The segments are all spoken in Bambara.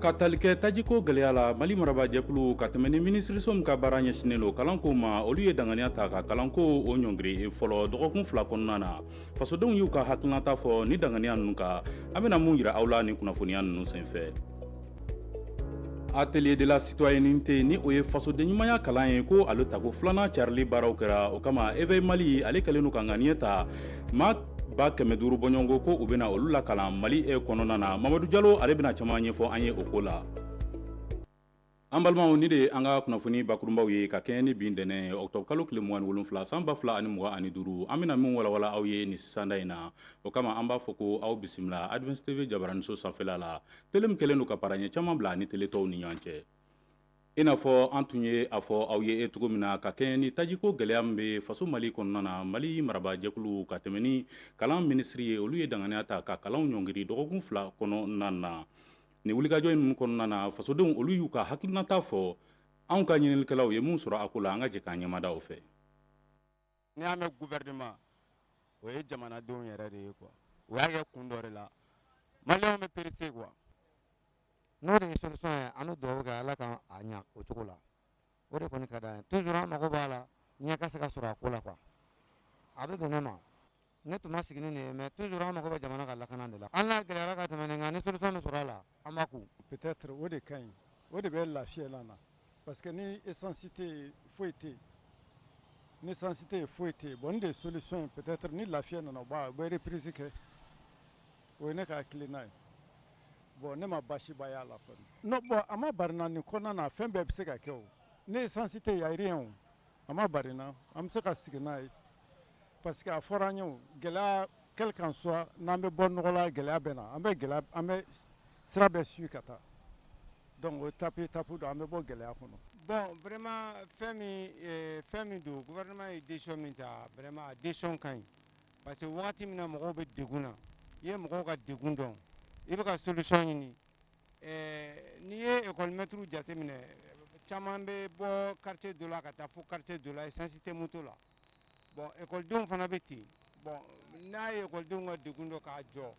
ka tali kɛ tajiko gɛlɛya la mali marabaajɛkulu ka tɛmɛ ni minisiriso min ka baara ɲɛsinen lo kalanko ma olu ye danganiya ta ka kalanko o ɲɔngiri fɔlɔ dɔgɔkun fila kɔnɔna na fasodenw y'u ka hakilinata fɔ ni danganiya nunu kan an bɛna mun yira aw la ni kunnafoniya nunu senfɛ atelier de la citoyenneté ni o ye fasodenɲumanya kalan ye ko ale tako filanan carili baaraw kɛra o kama Éveil mali ale kɛlen don ka ŋaniya ta maa ba kɛmɛ duuru bɔɲɔgɔnko ko u bɛna olu lakalan mali e kɔnɔna na mamadu jalo ale bɛna caman ɲɛfɔ an ye o ko la an balimaw nin de ye an ka kunnafoni bakurunbaw ye ka kɛɲɛ ni bi ntɛnɛn ɔkutɔburu kalo tile mugan ni wolonfila san ba fila ani mugan ani duuru an bɛna min walawala aw ye nin sisanda in na o kama an b'a fɔ ko aw bisimila Advance TV jabaraniso sanfɛla la tele min kɛlen don ka paraɲɛ caman bila a ni tele tɔw ni ɲɔgɔn cɛ I n'a fɔ an tun ye a fɔ aw ye e cogo min na ka kɛɲɛ ni tajiko gɛlɛya min bɛ faso mali kɔnɔna na mali marabaajɛkulu ka tɛmɛ ni kalan minisiri ye olu ye danganiya ta ka kalanw ɲɔngiri dɔgɔkun fila kɔnɔna na nin wulikajɔ in kɔnɔna na fasodenw olu y'u ka hakilinata fɔ anw ka ɲininikɛlaw ye min sɔrɔ a ko la an ka jɛ k'an ɲɛmada o fɛ n'i y'a mɛn gouvernement o ye jamanadenw yɛrɛ de ye quoi u y'a kɛ kun dɔ de la maliyɛnw bɛ pressé quoi n'o de ye solution ye an bɛ dugawu kɛ ala ka a ɲa o cogo la o de kɔni ka d'an ye toujours an mago b'a la ɲɛ ka se ka sɔrɔ a ko la quoi a bɛ bɛn ne ma ne tun ma sigi ni nin ye mais toujours an mago bɛ jamana ka lakana de la an n'a gɛlɛyara ka tɛmɛ nin kan ni solution bɛ sɔrɔ a la an b'a kun peut-être o de ka ɲi o de bɛ lafiya la na parce que ni essence tɛ yen foyi tɛ yen ni essence tɛ yen foyi tɛ yen bon nin de ye solution ye peut-être ni lafiya nana o b'a u bɛ reprise kɛ o ye ne ka hakilina ye bon ne ma baasiba y'a la kɔni non bon a ma bari n na nin kɔnɔna na fɛn bɛɛ bɛ se ka kɛ o ni essence tɛ yen y a rien o a ma bari n na an bɛ se ka sigi n'a ye Parce que a fɔra an ye gɛlɛya quel qu'en soit n'an bɛ bɔ nɔgɔ la gɛlɛya bɛ na an bɛ an bɛ sira bɛɛ suivi ka taa donc o étape étape don an bɛ bɔ gɛlɛya kɔnɔ bon vraiment fɛn fɛn min don gouvernement ye décision min ta vraiment a décision ka ɲi parce que waati min na mɔgɔw bɛ degun na i ye mɔgɔw ka degun dɔn i bɛ ka solution ɲini n'i ye ekɔli mɛtiriw jate minɛ caman bɛ bɔ quartier dɔ la ka taa fo quartier dɔ la essence tɛ moto la bon ekɔlidenw fana bɛ ten bon n'a ye ekɔlidenw ka degun dɔn k'a jɔ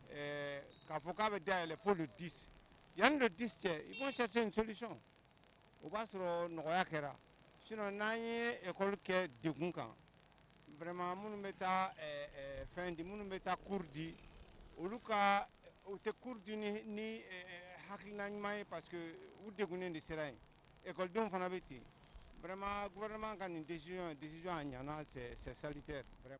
eh, k'a fɔ k'a bɛ dayɛlɛ fo le 10 yanni le 10 cɛ ils vont chercher une solution o b'a sɔrɔ nɔgɔya kɛra sinon n'an ye ekɔli kɛ degun kan vraiment minnu bɛ taa eh, eh, fɛn di minnu bɛ taa cours di olu ka u tɛ cours di ni ni eh, eh, hakilina ɲuman ye parce que u degunnen de sera yen Ekɔlidenw fana bɛ ten vraiment gouvernement ka nin décision décision a ɲana c'est salutaire vraiment.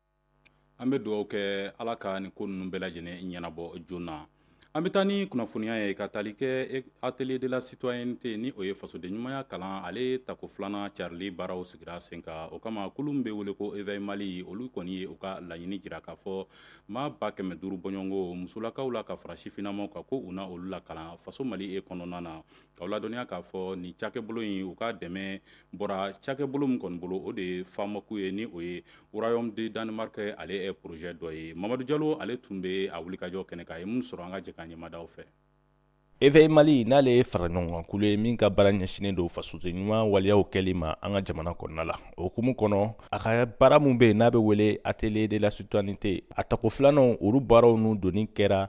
An bɛ dugawu kɛ Ala ka nin ko ninnu bɛɛ lajɛlen ɲɛnabɔ joona. An bɛ taa ni kunnafoniya ye ka tali kɛ atelier de la citoyenneté ni o ye fasoden ɲumanya kalan ale tako filanan carili baaraw sigira sen kan o kama kulu min bɛ wele ko Éveil Mali olu kɔni ye u ka laɲini jira k'a fɔ maa ba kɛmɛ duuru bɔɲɔgɔnko musolakaw la ka fara sifinnamaw kan ko u na olu lakalan faso Mali e kɔnɔna na K'aw ladɔnniya k'a fɔ nin cakɛbolo in u ka dɛmɛ bɔra cakɛbolo min kɔni bolo o de ye FAMOC ye ni o ye Royaume de Danemark ale projet dɔ ye Mamadu Jalo ale tun bɛ a wulikajɔ kɛnɛ kan a ye min sɔrɔ an ka jɛ ka ɲɛmadaw fɛ Éveil Mali n'ale ye faraɲɔgɔnkan kulu ye min ka baara ɲɛsinnen don fasoden ɲuman waleyaw kɛli ma an ka jamana kɔnɔna la o hukumu kɔnɔ a ka baara min bɛ yen n'a bɛ wele atelier de la citoyenneté a tako filanan olu baaraw ninnu donni kɛra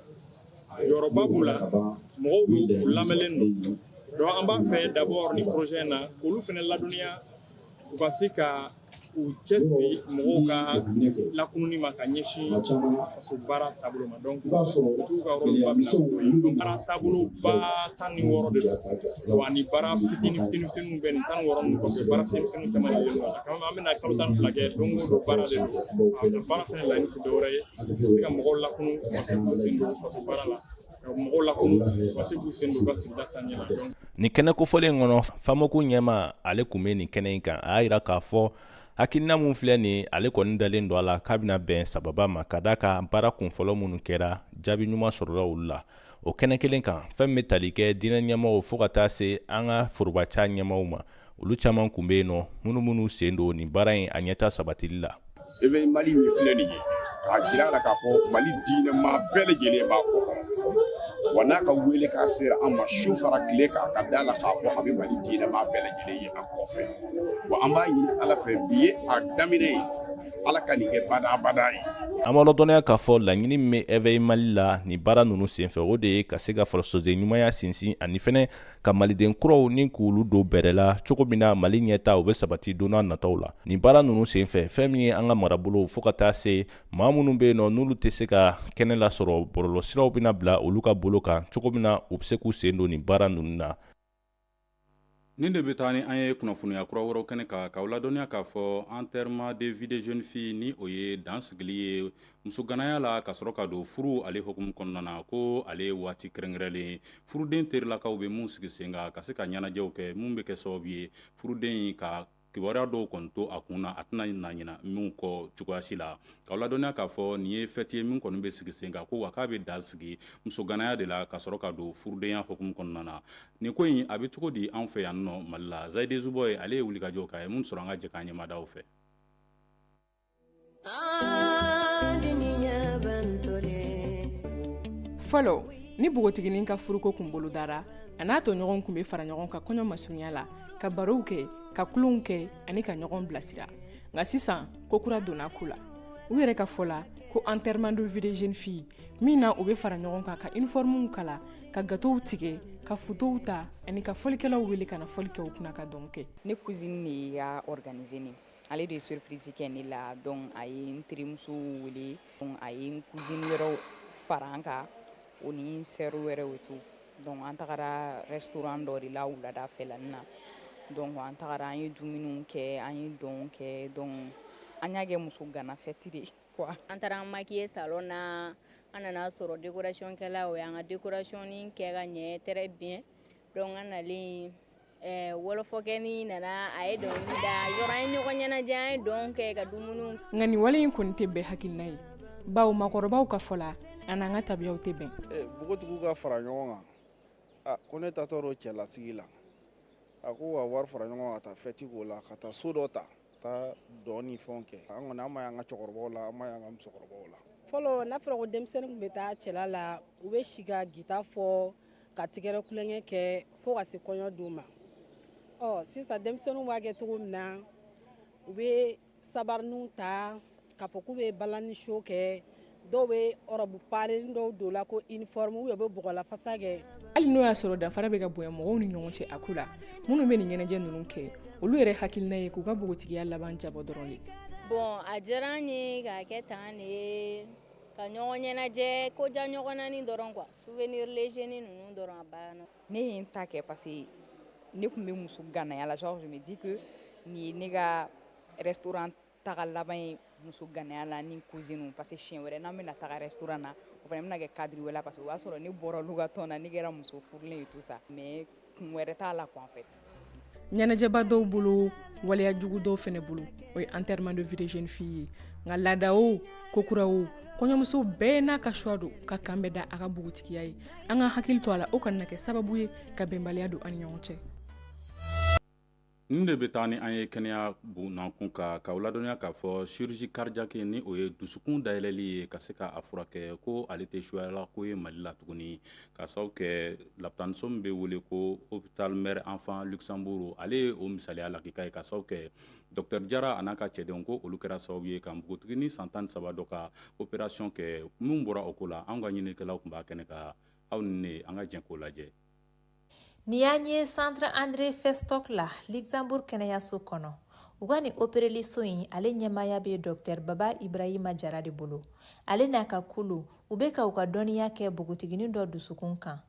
jɔyɔrɔba b'u la mɔgɔw don u lamɛnlen don donc an b'a fɛ d'abord ni projet na k'olu fana ladɔnniya u ka se ka u cɛsiri mɔgɔw ka lakununi ma ka ɲɛsin faso baara taabolo ma donc dugutigiw ka rôle ba b'a la baara taabolo ba tan ni wɔɔrɔ de don wa ni baara fitini fitini fitiniw bɛ nin tan ni wɔɔrɔ ninnu kɔfɛ baara fitini fitiniw caman de bɛ yen nɔ an bɛna kalo tan ni fila kɛ don o don baara de don baara fɛnɛ laɲini tɛ dɔwɛrɛ ye se ka mɔgɔw lakunu ka se k'u sen don faso baara la ka mɔgɔw lakunu ka se k'u sen don ka sigida taaɲɛ la nin kɛnɛ kofɔlen kɔnɔ FAMOC ɲɛmaa ale kun bɛ nin kɛnɛ in kan a y'a jira k'a fɔ hakilina min filɛ nin ale kɔni dalen don a la k'a bɛna bɛn sababa ma ka d'a kan baara kunfɔlɔ minnu kɛra jaabi ɲuman sɔrɔla olu la o kɛnɛ kelen kan fɛn min bɛ tali kɛ diinɛ ɲɛmɔgɔw fo ka taa se an ka forobaca ɲɛmɔgɔw ma olu caman kun be yen nɔ minnu minnu sen don nin baara in a ɲɛta sabatili la Éveil Mali min filɛ nin ye k'a jira a la k'a fɔ mali diinɛma bɛɛ lajɛlen b'a kɔ wa n'a ka welekan sera an ma su fara tile kan ka da la k'a fɔ a bɛ mali diinɛma bɛɛ lajɛlen ye an kɔfɛ wa an b'a ɲini ala fɛ bi ye a daminɛ ye ala ka nin kɛ badabada ye an b'aw ladɔnniya k'a fɔ laɲini min bɛ Éveil Mali la nin baara ninnu senfɛ o de ye ka se ka fasoden ɲumanya sinsin ani fɛnɛ ka maliden kuraw ni k'olu don bɛrɛ la cogo min na mali ɲɛta o be sabati don nataw la nin baara nunu sen fɛ fɛn min ye an ka marabolow fo ka taa se maa minnu be yen nɔ n'olu tɛ se ka kɛnɛ lasɔrɔ bɔlɔlɔsiraw bena bila olu ka bolo kan cogo min na u be se k'u sen don nin baara nunu na nin de be taa ni an ye kunnafoniya kura wɛrɛw kɛnɛ kan k'aw ladɔnniya k'a fɔ enterrement de vie de jeune fille ni o ye dansigili ye musoganaya la ka sɔrɔ ka don furu ale hukumu kɔnɔna na ko ale ye waati kɛrɛnkɛrɛnlen furuden terilakaw bɛ min sigi sen kan ka se ka ɲɛnajɛw kɛ min bɛ kɛ sababu ye furuden in ka kibaruya dɔw kɔni to a kun na a tɛna na ɲina min kɔ cogoya si la k'aw ladɔnniya k'a fɔ nin ye fɛti ye min kɔni bɛ sigi sen kan ko wa k'a bɛ dan sigi musoganaya de la ka sɔrɔ ka don furudenya hukumu kɔnɔna na nin ko in a bɛ cogo di an fɛ yan nɔ mali la zayide zuboye ale ye wulikajɔ k'a ye min sɔrɔ an ka jɛ k'an ɲɛmada u fɛ fɔlɔ ni npogotiginin ka furuko tun bolodara a n'a tɔɲɔgɔnw tun bɛ fara ɲɔgɔn kan kɔɲɔ masurunya la ka barow kɛ ka tulonw kɛ ani ka ɲɔgɔn bilasira nka sisan ko kura donna ko la u yɛrɛ ka fɔ la ko enterrement de vie de jeune fille min na u bɛ fara ɲɔgɔn kan ka uniformew kala ka gatow tigɛ ka fotow ta ani ka fɔlikɛlaw wele ka na fɔli kɛ u kunna ka dɔn kɛ ne cousine de y'a organiser ne ale de ye surprise kɛ ne la donc a ye n terimuso wele donc a ye n cousine wɛrɛw fara an kan o ni n sœur wɛrɛw et tout donc an tagara restaurant dɔ de la wulada fɛlanin na donc an tagara an ye dumuniw kɛ an ye dɔnw kɛ donc an y'a kɛ muso gana fɛti de quoi an taara an makiye salon na an nana sɔrɔ dekorasiyɔnkɛla o y'an ka dekorasiyɔni kɛ ka ɲɛ très bien donc an nalen eh, wɔlɔfɔkɛnin nana a ye dɔnkili da yɔrɔ an ye ɲɔgɔn ɲɛnajɛ an ye dɔn kɛ ka dumuni nka nin wale in kɔni tɛ bɛɛ hakilina ye bawo makɔrɔbaw ka fɔ la a n'an ka tabiyaw tɛ bɛn eh, npogotigiw ka fara ɲɔgɔn kan ah, ko ne taatɔ don cɛlasigi la a ko wa wari fara ɲɔgɔn kan ka taa fɛti k'o la ka taa so dɔ ta taa dɔn ni fɛnw kɛ an kɔni an m'a y'an ka cɛkɔrɔbaw la an m'a y'an ka musokɔrɔbaw la fɔlɔ n'a fɔra ko denmisɛnnin tun bɛ taa cɛla la u bɛ si ka gita fɔ ka tɛgɛrɛ tulonkɛ kɛ fo ka se kɔɲɔ don ma ɔ sisan denmisɛnninw b'a kɛ cogo min na u bɛ sabariniw ta k'a fɔ k'u bɛ balani show kɛ dɔw bɛ ɔrɔbu paren dɔw don la ko uniforme u bɛ bɔgɔlafasa kɛ hali n'o y'a sɔrɔ danfara bɛ ka bonya mɔgɔw ni ɲɔgɔn cɛ a ko la minnu bɛ nin ɲɛnajɛ ninnu kɛ olu yɛrɛ hakilina ye k'u ka npogotigiya laban jabɔ dɔrɔn de bon a diyara n ye k'a kɛ tan de ye ka ɲɔgɔn ɲɛnajɛ ko ja ɲɔgɔnani dɔrɔn quoi souvenir léger ninnu dɔrɔn a banna ne ye n ta kɛ parce que ne tun bɛ muso ganaya la genre je me dis que nin ye ne ka restaurant taga laban ye muso ganaya la ni cousine parce que siɲɛ wɛrɛ n'an bɛna taga restaurant na o fana bɛna kɛ cadre wɛrɛ la parce que o b'a sɔrɔ ne bɔra olu ka tɔn na ne kɛra muso furulen ye tout ça mais kun wɛrɛ t'a la quoi en fait ɲɛnajɛba dɔw bolo waleya jugu dɔw fɛnɛ bolo o ye enterrement de vie de jeune fille ye nka laada o ko kura o kɔɲɔmuso bɛɛ n'a ka choix don ka k'an bɛn da a ka npogotigiya ye an ka hakili to a la o kana na kɛ sababu ye ka bɛnbaliya don an ni ɲɔgɔn cɛ Nin de bɛ taa ni an ye kɛnɛya bunda kun kan k'aw ladɔnniya k'a fɔ chirurgie cardiaque ni o ye dusukun dayɛlɛli ye ka se k'a furakɛ ko ale tɛ suyala ko ye mali la tuguni ka sababu kɛ lapitaniso min bɛ wele ko hôpital mère enfant Luxembourg ale ye o misaliya lakika ye ka sababu kɛ dɔktɛr jara a n'a ka cɛdenw ko olu kɛra sababu ye ka npogotiginin san tan ni saba dɔ ka opération kɛ minnu bɔra o ko la an ka ɲininikɛlaw tun b'a kɛnɛ kan aw ni ne an ka jɛ k'o lajɛ Nin y'an ye centre André Festoc la Luxembourg kɛnɛyayaso kɔnɔ u ka nin opereliso in ale ɲɛmaaya bɛ dɔktɛr baba ibrahima jara de bolo ale n'a ka kulu u bɛ ka u ka dɔnniya kɛ npogotiginin dɔ dusukun kan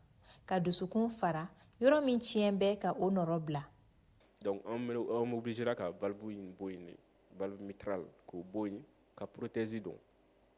ka dusukun fara yɔrɔ min tiɲɛ bɛ ka o nɔrɔbila sera ka valve in bɔ yen valve mitrale k'o bɔ yen ka prothèse don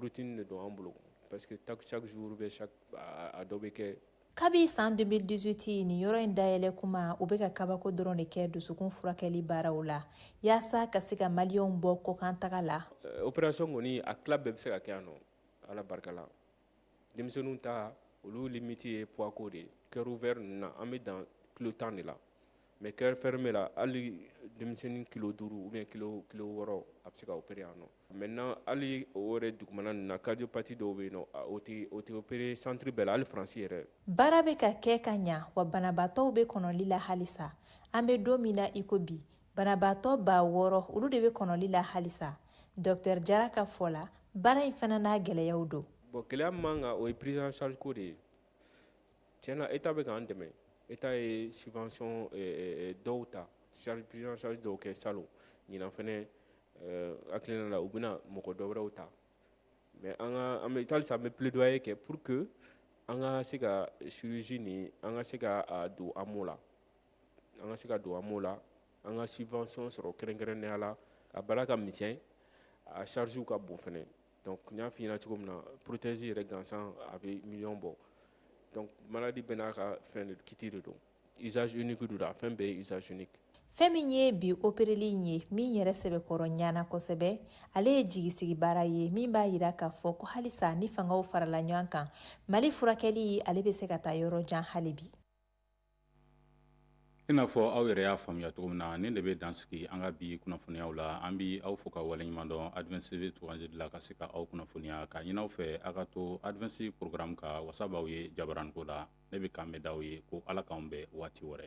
routine de don an bolo parce que chaque jour bɛɛ a dɔ bɛ kɛ kabi san 2018 nin yɔrɔ in dayɛlɛ kuma u bɛ ka kabako dɔrɔn de kɛ dusukun furakɛli baaraw la yaasa ka se ka maliyɛnw bɔ kɔkan taga la euh, opération kɔni a tila bɛɛ bɛ se ka kɛ yan nɔ ala barika la denmisɛnninw ta olu limiti ye poids ko de ye cœur ouvert ninnu na an bɛ dan kilo tan de la mais cœur fermé la hali denmisɛnnin kilo duuru ou bien kilo kilo wɔɔrɔ a bɛ se ka opere yan nɔ maintenant hali o yɛrɛ dugumana ninnu na cardiopathie dɔw bɛ yen nɔ o tɛ o tɛ opere santiri bɛɛ la hali faransi yɛrɛ baara bɛ ka kɛ ka ɲa wa banabaatɔw bɛ kɔnɔli la halisa an bɛ don min na iko bi banabaatɔ ba wɔɔrɔ olu de bɛ kɔnɔli la halisa dɔktɛr jara ka fɔ la baara in fana n'a gɛlɛyaw don bon gɛlɛya min b'an kan o ye prise en charge ko de ye tiɲɛ na eta bɛ k'an dɛmɛ eta ye subvention eh, eh, eh, dɔw ta prise en charge dɔw kɛ salon ɲinan fɛnɛ hakilina la u bɛna mɔgɔ dɔ wɛrɛw ta mais an ka an bɛ halisa an bɛ plaidoyer kɛ pour que an ka se ka chirurgie nin an ka se ka a don AMO la an ka se ka don AMO la an ka subvention sɔrɔ kɛrɛnkɛrɛnnenya la a baara ka misɛn a charge ka bon fɛnɛ donc n y'a f'i ɲɛna cogo min na prothèse yɛrɛ gansan a bɛ miliyɔn bɔ donc maladie bɛɛ n'a ka fɛn de kiti de don usage unique don a fɛn bɛɛ ye usage unique fɛn min ye bi opereli in ye min yɛrɛ sɛbɛkɔrɔ ɲana kosɛbɛ ale ye jigisigi baara ye min b'a yira k'a fɔ ko halisa ni fangaw farala ɲɔgɔn kan mali furakɛli ale bɛ se ka taa yɔrɔ jan hali bi i n'a fɔ aw yɛrɛ y'a faamuya cogo min na nin de bɛ dansigi an ka bi kunnafoniyaw la an bɛ aw fo ka waleɲuman dɔn adse tosi la ka se ka aw kunnafoniya ka ɲini anw fɛ aw ka to adse porogaramu ka wasa b'aw ye jabaranko la ne bɛ kanbɛn da aw ye ko ala k'an bɛn waati wɛrɛ